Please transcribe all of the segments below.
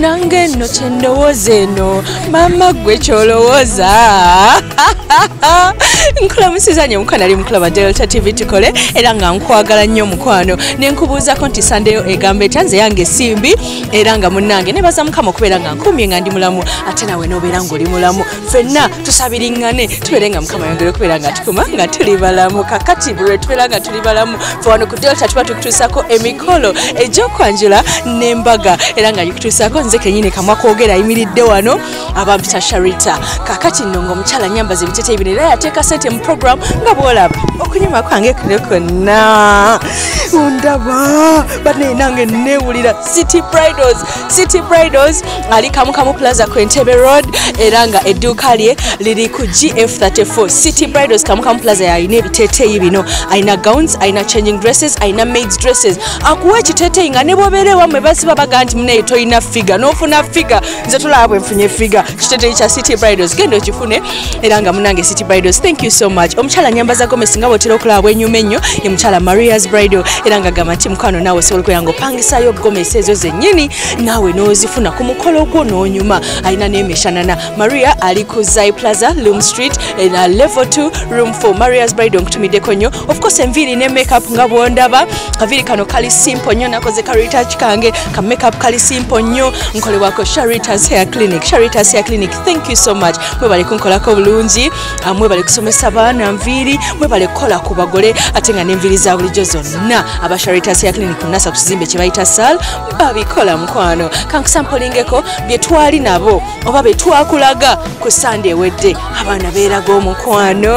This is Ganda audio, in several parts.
nange eno kyendowooza eno maama gwe kyolowooza nkulamusiza nyo mukwano ali mukulaba delta tv tukole era nga nkwagala nnyo mukwano nenkubuuzako nti sandeyo egamba etya nze yange simbi era nga munange nebaza mukama okubeera nga nkumye nga ndi mulamu ate nawe nobeera ngaoli mulamu fenna tusabiriŋŋane tubeere nga mukama yongere okubeera nga tukuma nga tuli balamu kakati buli lwetubeera nga tuli balamu fe wano ku delta tuba tukutuusako emikolo egyokwanjula n'embaga era nga gikutuusako nze kenyini kamwa kwogera ayimiridde wano abampita sharita kakati nno nga omukyala nyambaza ebitete ebino era yateeka sente mu programu nga bwolaba okunyuma kwange kuno kwonna undaba banaye nange newulira city bridals city bridals ali kamukamu plaza ku entebe road era nga edduuka lye liri ku gf34 city bridals kamukamu plaza yalina ebiteteeyi bino alina gowns alina changing dresses alina maids dresses akuwa ekiteteeyi nga ne bwobeera ewamwe basiba baga nti munaye tolina figa n'ofuna figa nze tulaba bwe nfunye figa ekiteteyi kya city bridals genda okifune era nga munange city bridals thank you so much omukyala nyambaza gomesi nga bwotera okulaba bwenyuma ennyo ye mukyala marias bridal era nga gamba nti mukwano naawe osobola okubeera nga opangisayo gomesi ezo zennyini naawe n'ozifuna ku mukolo gwo n'onyuma alina n'emishanana maria ali ku zai plaza loom street era level 2 room 4 marias bridal nkutumiddeko nnyo of course enviiri ne makeup nga bwondaba kaviiri kano kali simple nnyo nakoze ka retouch kange ka makeup kali simple nnyo nkolebwako sharitas hair clinic sharitas hair clinic thank you so much mwebale kunkolako bulungi ah, mwebale kusomesa baana nviiri mwebale kukola ku bagole ate nga nenviiri za bulijjo zonna aba sharitas hair clinic nasa ku kizimbe kye bayita sal babikola mukwano kankusampulingeko bye twali nabo oba bye twakulaga ku sande ewedde abaana beeraga omukwano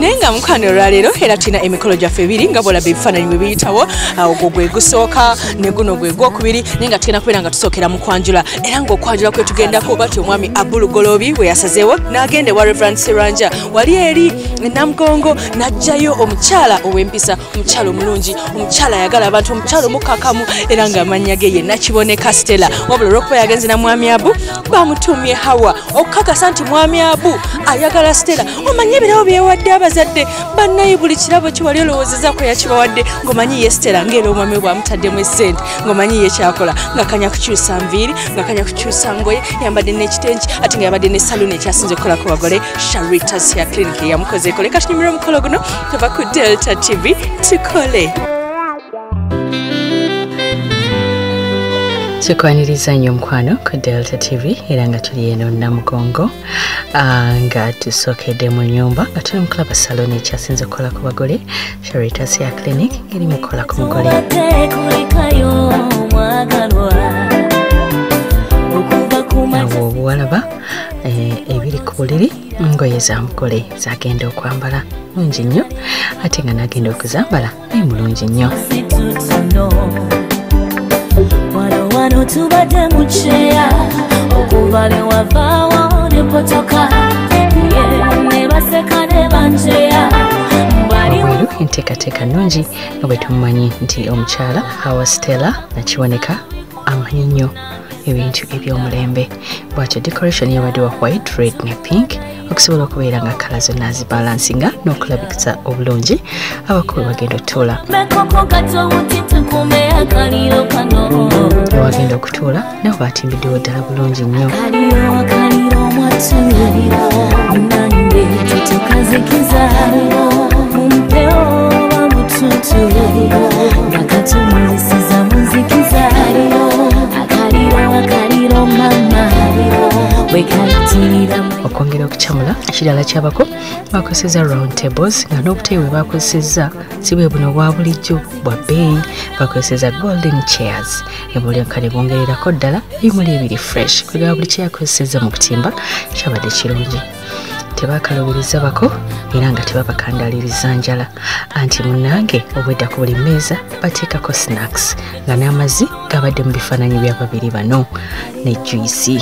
naye nga mukwano olwaleero era tulina emikolo gyaffe ebiri nga bolaba ebifaananyi bwe biyitawo ah, ogwo gwe gusooka ne guno gwe gwokubiri naye nga tugenda kubeera nga tusookera mu kwanjula era ngaokwanjula kwe tugendako oba ti omwami abulu goloobi we yasazeewo n'agenda ewa reverand seranja wali eri namugongo n'ajjayo omukyala ow'empisa omukyalo omulungi omukyalo ayagala abantu omukyalo omukakamu era nga amannya ge yenna kiboneka stella wabula olwokuba yagenze na mwami abu bamutuumye hawa okukakasa nti mwami abu ayagala stella omanyi ebirabo byewadde abazadde bannaye buli kirabo kiwali olowoozezako yakibawadde ng'omanyi ye stella ngaera omwami we bwamutaddemu esente ng'omanyi ye kyakola ngakanya kukyusa nviiri ngakanya kukyusa ngoye yambadde n'ekitenki ate nga yabadde ne saluuni ekyasinze okukolako bagole sharitas ya clinic yamukozeeko leka tunyumire omukolo guno tuva ku delta tv tukole tukwaniriza nnyo omukwano ku delta tv era nga tuli eno namugongo ah, nga tusookedde mu nyumba nga tuli mukulaba saloni ekyasinze okukola ku bagole sharitas ya clinic ngeri mukukola ku mugole awo obuwalaba eh, ebiri ku buliri ngoye zamukole zagenda okwambala mulungi nnyo ate nga nagenda okuzambala naye mulungi nnyo tubadde mu kyeya okuva lwe wavaawo ne potoka ne baseka ne banjeya wabweru enteekateeka nnungi nga bwe tumumanyi nti omukyala hawa stella nakiwoneka amanyi nnyo ebintu ebyomulembe bwatyo decoration yabadde wa white red ne pink okusobola okubeera nga kala zonna zibalansinga n'okulabikisa obulungi abakulu bagenda otuula wagenda okutuula nabo batimbiddewo ddala bulungi nnyo Nakatumiza okwongera okukyamula ekirala kyabako bakozeseza round tables nga n'obutebe bwe bakozesezza si bwe buno obwa bulijjo bwa bbeeyi bakozeseza golden chairs ebulyoka ne bongererako ddala bimuli ebiri fresh kwegaba buli kyeyakozesezza mu kutimba kyabadde kirungi tebakalubiriza bako era nga tebabakandaliriza njala anti munange obwedda ku buli mmeeza bateekako snacks nga n'amazzi gabadde mu bifaananyi bya babiri bano ne juisi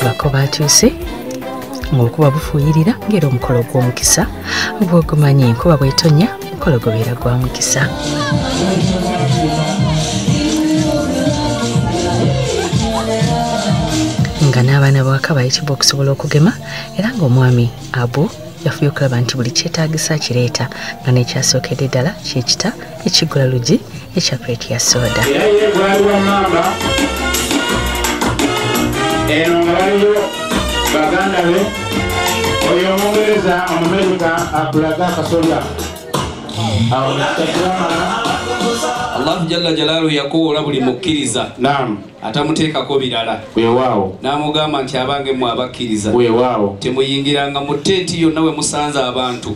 bako baatuuse ng'okuba bufuuyirira ng'era omukolo gw'omukisa bwogumanyi nkuba bwetonya mukolo gubeera gwa mukisa nga n'abaana bawaka bayitibwa okusobola okugema era ng'omwami abu yafuye okulaba nti buli kyetaagisa kireeta nga nekyasookedde ddala kyekita ekigula lugi ekya kreti ya soda eno nga baliyo baganda be oyo omungereza omumerika akulaga akasolya awo nekitakiramala allahu jalla jalaalu yakoola buli mukkiriza atamuteekako birala wewaawo n'amugamba nti abange mwe abakkiriza wewaawo temuyingiranga mu tenti yonna we musanze abantu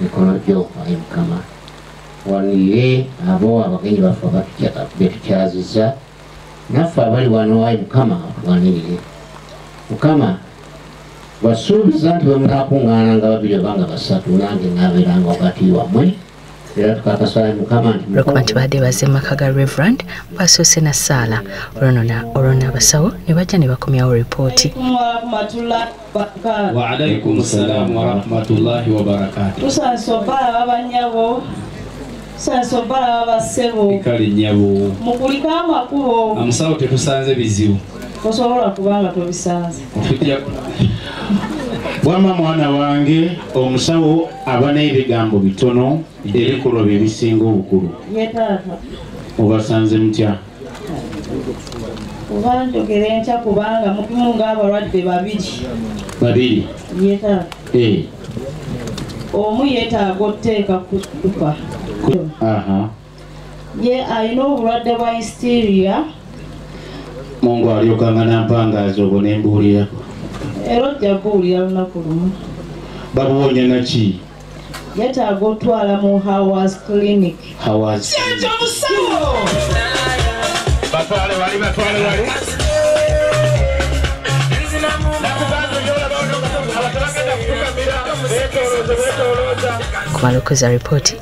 mikono gyo ayi mukama wanuyire abo abagenyi baffe betukyaziza naffe abali wano ayi mukama atwanirire mukama wasuubiza nti bamutakuŋŋaana nga babiri obanga basatu nange naabeeranga wakati wammwe lwakuba nti baadde baze maka ga reverand basoose na saala olwonona olwo n'abasawo ne bajja ne bakomyawo ripooti sasobala babassebo mukulika amakubo amusawo tetusanze bizibu tosobola kuba nga tobisanze wama mwana wange omusawo aba naye bigambo bitono ebikolwa bye bisinga obukulu obasanze mutya oba njogere ntya kubanga mutumu ngaabalwadde babiri babiri eh. omu yetaaga oteeka kukupa ye alina obulwadde bwa histeria mungu alyokanga nampangaaza obwo nembuulira era ojja kuwulira lunaku lumu babuwonya naki yetaaga otwala mu hours clinic hours batwale wali batwale wali kubalokoza ripooti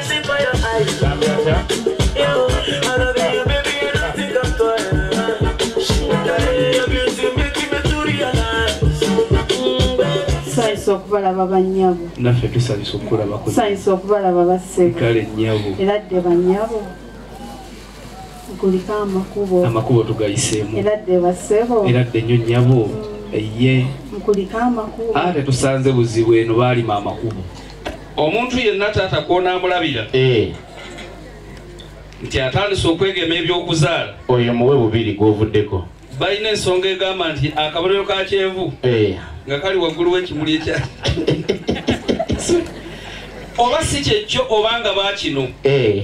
okubalaba banyabo naffe tusanyusa okukulabasanyusa okubalaba bassebo kale nyabo era dde banyabo kulika amakubo amakubo tugayiseemu era dde bassebo era dde nyo nyabo mm. eye nkulika amakubo ate tusanze buzibu eno baalima amakubo omuntu yenna taata kwonaamulabira eh. nti atandise okwegema ebyokuzaala oyo muwe bubiri gwovuddeko balina ensonga egamba nti akabolero ka kyenvu eh. nga kali waggulu wekimuli ekya oba si kyekyo obanga bakino eh.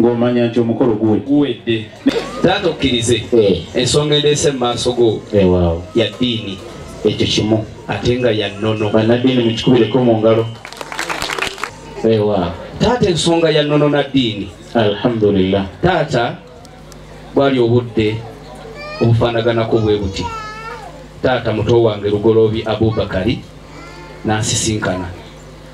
ng'omanya nti omukolo guwedde taata okkirize eh. ensonga endeese mu maaso go eh, ya ddiini ekyo kimu ate nga ya nnono bannaddiini mukikubireko mu ngalo eh, taata ensonga ya nnono na ddiini alhamdulillah taata bwali obudde obufaanaganako bwe buti taata muto wange lugoloobi abubakari n'ansisinkana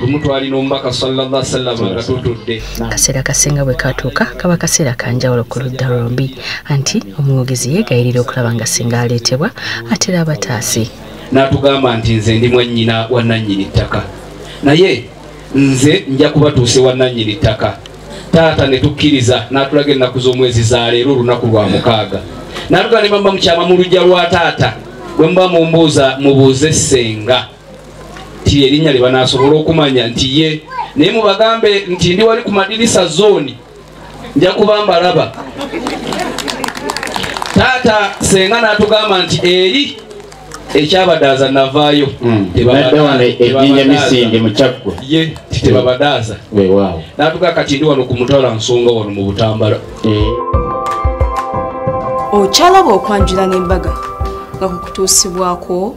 lumutwalina omubaka sallasalama nga tutudde akaseera kasinga bwe katuuka kaba kaseera kanjawulo ku ludda lwombi anti omwogezi yeegayirira okulaba nga singa aleetebwa atera abataasi n'atugamba nti nze ndi mwannyina wa nannyini ttaka naye nze nja kubatuuse wa nannyini ttaka taata ne tukkiriza n'atulaga ennaku z'omwezi za leero olunaku lwa mukaaga n'atugamba ne bamba mukyama mu lujja lwa taata bwe muba mumbuuza mubuuze ssenga nti erinnya lye banaasobola okumanya nti ye naye mubagambe nti ndi wali ku madirisa zooni nja kuba mbalaba taata senga n'atugamba nti eri ekyabadaaza navaayo hmm. ye titebabadaaza natuga kati ndi wano ku mutwala nsonga wano mu butambala eh. okyalaba okwanjula n'embaga nga kukutuusibwako